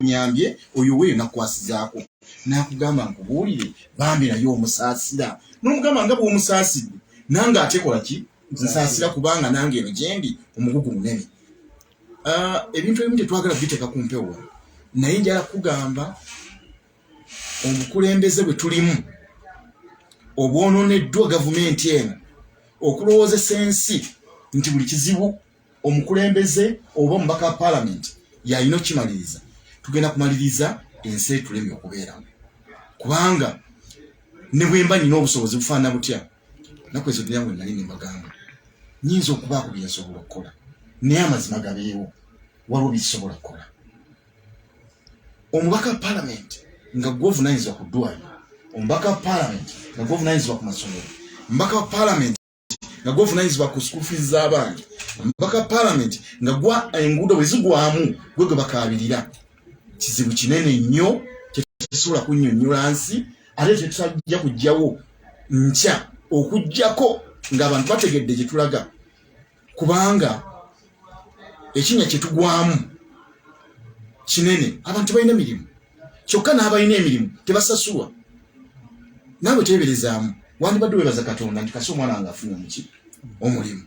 nyambye oyo weyo nakwasizaako nakugamba nkubuulire bambi naye omusaasira nomugamba nga bwomusaasidde nange ate kola ki nsaasira kubanga nange eno gyendi omugugu munene ah, ebintu ebimu tetwagala biteeka ku mpewo naye njala kugamba obukulembeze bwe tulimu obwononeddwa gavumenti eno okulowoozesa ensi nti buli kizibu omukulembeze oba omubaka wa palamenti yalina okukimaliriza tugenda kumaliriza ensi etulemi okubeeramu kubanga ne bwemba nina obusobozi bufaana butya naku ezo duniya mwe nali nembagamba nyinza okubaako byensobola okukola naye amazima gabeewo waliwo byekisobola kukola omubaka wa palamenti nga gwovunanyizibwa ku ddwaliro omubaka wa palamenti nga gwovunanyizibwa ku masomero omubaka wa palamenti nga gwovunanyizibwa ku school fees z'abaana mpaka parliament nga gwa enguudo bwe zigwamu gwe gwe bakaabirira kizibu kinene nnyo kyetusobola kunnyonnyola nsi ate kyetutajja kujjawo nkya okugyako ng'abantu bategedde gye tulaga kubanga ekinya kyetugwamu kinene abantu balina emirimu kyokka n'abalina emirimu tebasasulwa naawe teeberezaamu wandibadde webaza katonda nti kasi omwana wange afunye omuki omulimu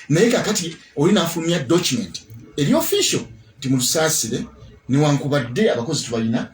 naye kakati oli naafulumya document eri official nti mulusaasire newankubadde abakozi tubalina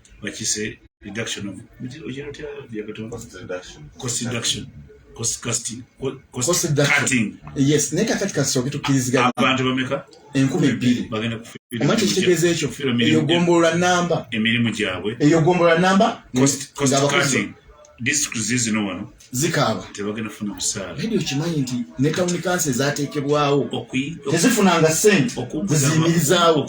bakise reduction of cost reduction cost reduction naye kakati kasooke tukkiriziganya abantu bameka enkumi ebbiri bagenda kuoma kyekitegeeza ekyo eyo gombolola namba emirimu gyabwe eyo gombolola namba zikaaba naye okimanyi nti ne tawuni kansi ezateekebwawo tezifunanga sente zeziyimirizaawo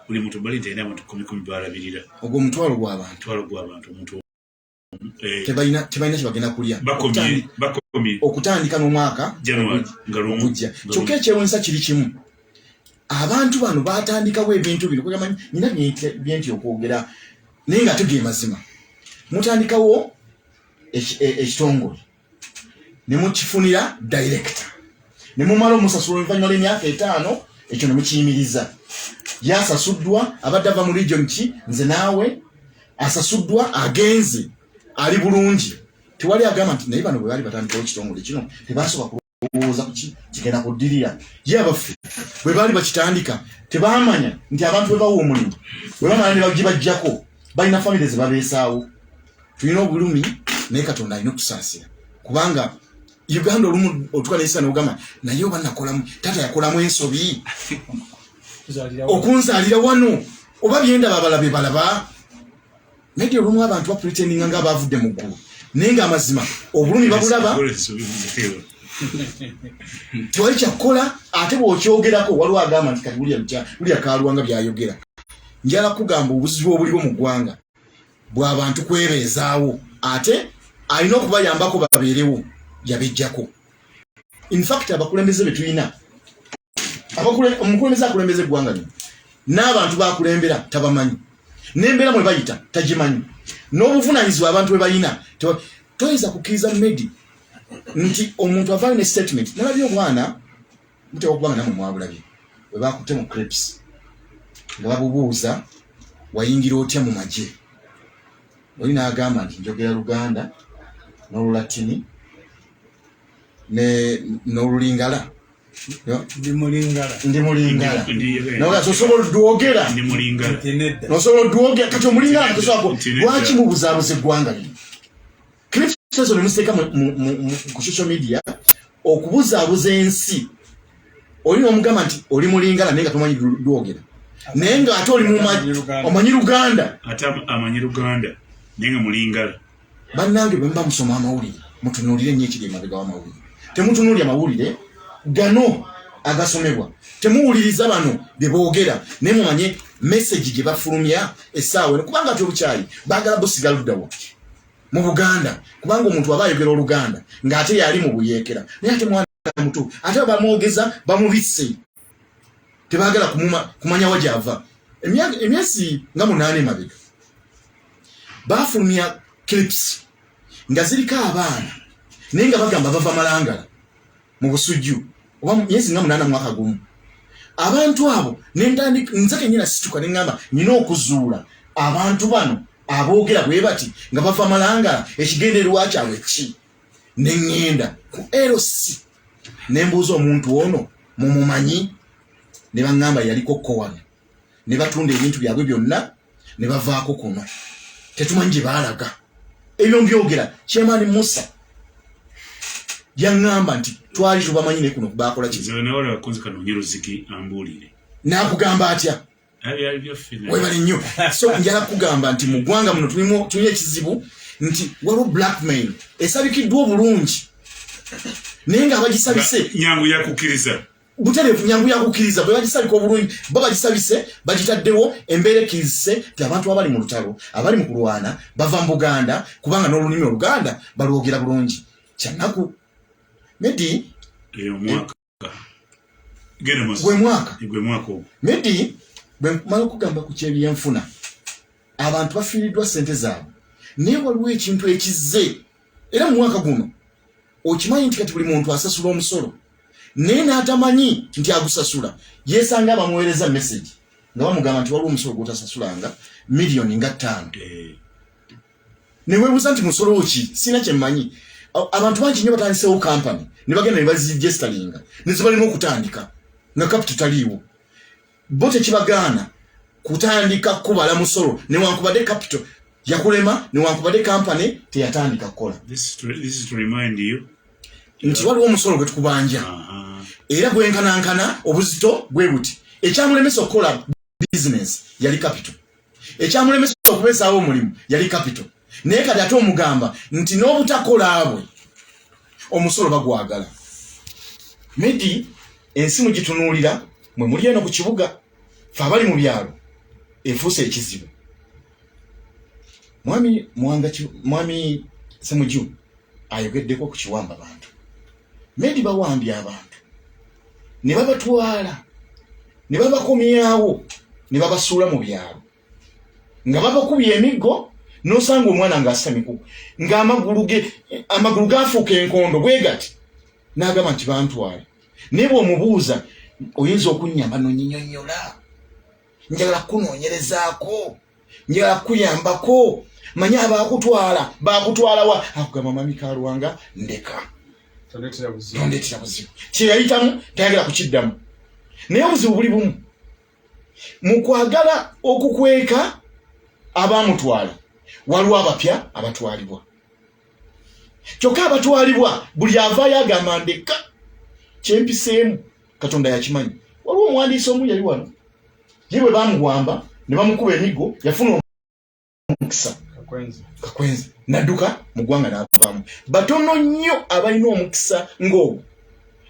buli muntu bali nti alina abantu kumi kumi balabirira ogwo omutwalo gwabantu mutwalo gwabantu omuntu eh, tebalina tebalina kyebagenda kulya okutandika n'omwaka ogujja kyokka ekyewunyisa kiri kimu abantu bano batandikawo ebintu bino kwegamanyi nina byenti okwogera naye nga tuge mazima mutandikawo e, ekitongole ne mukifunira dayirekita ne mumala omusasula oluvannyuma lw'emyaka etaano ekyo ne mukiyimiriza yasasuddwa abadde ava mu region ki nze naawe asasuddwa agenze ali bulungi tewali agamba nti naye bano bwe baali batandikawo ekitongole kino tebasooka olowooza kuki kigenda kuddirira ye abaffe bwe baali bakitandika tebaamanya nti abantu bwe bawa omulimu bwe bamala ne bagibajjako balina famire ze babeesaawo tulina obulumi naye katonda alina okusaasira kubanga uganda olumu otuka nesa nogamba naye oba nakolamu taata yakolamu ensobi okunzalira wano oba byendaba abalabe balaba naye ti olumu abantu bapretendinga nga abavudde mu ggulu naye nga amazima obulumi babulaba tewali kyakkola ate bwokyogerako waliwo agamba nti kati bulya kalwanga byayogera njala kugamba obuzibu obuliwo mu ggwanga bwabantu kwebeezaawo ate alina okubayambako babeerewo yabejjako infact abakulembeze betulina omukulembeze akulembeza eggwanga lino n'abantu bakulembera tabamanyi n'embeera mwe bayita tagimanyi n'obuvunaanyizibwa abantu bwe balina toyinza kukkiriza medi nti omuntu avaayo ne statement nalabye obwana mutewa okuba nga namwe mwabulabye bwe bakutte mu crips nga babubuuza wayingira otya mu magye oli n'agamba nti njogera luganda n'olulatini n'olulingala ndi mulingala nawe osobola odwogera osobola odwogera kati omulingala katosoako lwaki mubuzabuza eggwanga lino kirisezo nemusiteeka ku social media okubuzabuza ensi oli nomugamba nti oli mulingala naye nga tomanyi dwogera naye nga ate oli omanyi luganda ate amanyi luganda naye nga mulingala bannange bwe muba musoma amawulire mutunuulire nnyo ekiri emabega w'amawulire temutunuulira mawulire gano agasomebwa temuwuliriza bano bye boogera naye mumanye mesegi gye bafulumya essaawa eno kubanga ati obukyayi baagala busiga ludda wapye mu buganda kubanga omuntu aba ayogera oluganda ng'ate yali mu buyeekera naye ate mwana muto ate bamwogeza bamubisse tebagala kumanya wa gyava emyezi nga munaana emabega bafulumya clips nga ziriko abaana naye nga bagamba bava malangala mu busujju oba myezi nga munaana mwaka gumu abantu abo nentandika nze kenyina situka neŋamba nina okuzuula abantu bano aboogera bwe bati nga bava malangala ekigendererwa kyabwe ki ne ŋŋenda ku lc ne mbuuza omuntu ono mumumanyi ne baŋŋamba yaliko kko wano ne batunda ebintu byabwe byonna ne bavaako kuno tetumanyi gye baalaga ebyo mbyogera kyemaani musa yaŋŋamba nti twali tubamanyi ne kuno baakola kizi nakugamba atya webale nnyo so njala kugamba nti mu ggwanga muno tulimu ekizibu nti waliwo blackmail esabikiddwa obulungi naye nga abagisabise nyangu yakukkiriza butereevu nyangu yakukkiriza bwe bagisabika obulungi bo bagisabise bagitaddewo embeera ekkirizise nti abantu abali mu lutalo abali mu kulwana bava mu buganda kubanga n'olulimi oluganda balwogera bulungi kyannaku medi gwe mwaka gwe mwaka ogwo medi bwe nkumala okugamba ku kyebyenfuna abantu bafiiriddwa ssente zaabwe naye waliwo ekintu ekizze era mu mwaka guno okimanyi nti kati buli muntu asasula omusolo naye n'atamanyi nti agusasula yeesanga abamuweereza mesegi nga bamugamba nti waliwo omusolo gwotasasulanga miliyoni nga ttaano eh. newebuza nti musolo ki sina kyemanyi abantu bangi nyo batandisewo kampany nebagenda nebazigestalinga nezibalina okutandika nga kapitu taliiwo bo tekibagaana kutandika kubala musolo newankubadde capital yakulema newankubadde kampany teyatandika kukola nti waliwo omusolo gwetukubanja era gwenkanankana obuzito gwe buti ekyamulemesa okukola bizinensi yali kapito ekyamulemesa okubeezaawo omulimu yali kapito naye kati ate omugamba nti n'obutakola bwe omusolo bagwagala medi ensi mugitunuulira mwe muli eno ku kibuga fe abali mu byalo efuuse ekizibu mwami mwanga mwami semuju ayogeddeko ku kiwamba bantu maybe bawambye abantu ne babatwala ne babakomyawo ne babasuula mu byalo nga babakubye emiggo nosanga omwana ngaasamiku ngaamagulu ge amagulu gaafuuka enkondo bwegati n'agamba nti bantwale naye bw'omubuuza oyinza okunnyamba nonyinyola njagala kunoonyerezaako njagala kuyambako manya abakutwala bakutwalawa akugamba mami kalwanga ndeka tondeetera buzibu kyeyayitamu tayagala kukiddamu naye obuzibu buli bumu mu kwagala okukweka abamutwala waliwo abapya abatwalibwa kyokka abatwalibwa buli avaayo agamba ndeka kyempiseemu katonda yakimanyi waliwo omuwandiisi omu yali wano ye bwe bamuwamba ne bamukuba emiggo yafuna omukisa kakwenzi nadduka mu ggwanga n'avaamu batono nnyo abalina omukisa ng'ogwo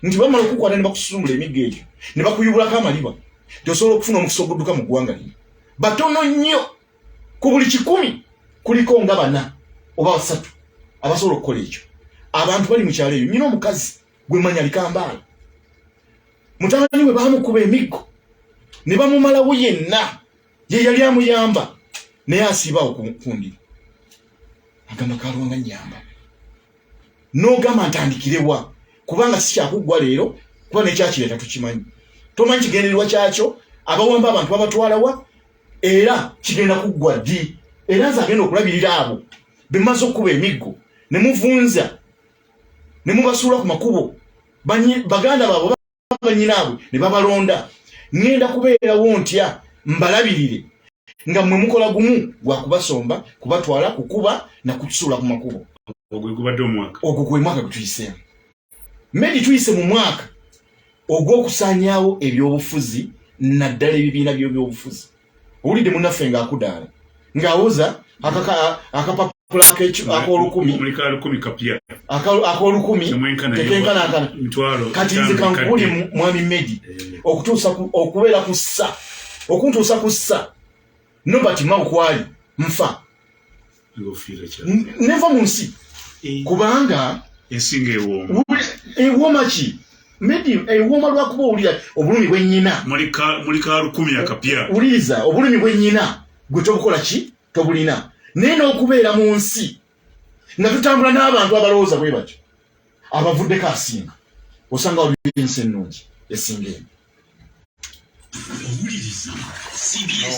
nti bamala okukwata ne bakususumbula emiggo egyo ne bakuyubulako amaliba gyosobola okufuna omukisa ogudduka mu ggwanga lino batono nnyo ku buli kikumi kuliko nga bana oba basatu abasobola okukola ekyo abantu bali mu kyalo eyo nyina omukazi gwe manya likambaala mutabani we baamukuba emiggo ne bamumalawo yenna ye yali amuyamba naye asiibaawo kundi agamba kalwanga nyamba n'ogamba ntandikirewa kubanga sikyakuggwa leero kuba nekyakireeta tukimanyi tomanyi kigendererwa kyakyo abawamba abantu babatwalawa era kigenda kuggwa ddi era nze agenda okulabirira abo bemaze okukuba emiggo ne muvunza ne mubasuula ku makubo baganda baabwe banyinaabwe ne babalonda ŋŋenda kubeerawo ntya mbalabirire nga mwe mukola gumu gwa kubasomba kubatwala kukuba na kusuula ku makubo ogwo gwe mwaka gwe tuyiseemu medi tuyise mu mwaka ogw'okusaanyaawo ebyobufuzi naddala ebibiina by'ebyobufuzi owulidde munaffe nga akudaala nga awoza akapapula akolukumi akolukumi tekenkanakana kati nze kankubuli mwami medi eh. okutuusa okubeera ku ssa okuntuusa ku ssa nobert maukwali nfa neva mu nsi eh. kubanga ensinga ewooma ewooma ki medi ewooma lwakuba owulira obulumi bwenyina muli ka lukumi akapya wuliriza obulumi bwenyina gwe tobukola ki tobulina naye n'okubeera mu nsi nga tutambula n'abantu abalowooza bwe batyo abavuddeko asinga osanga waliwo ensi ennungi esinga eno owuliriza cbs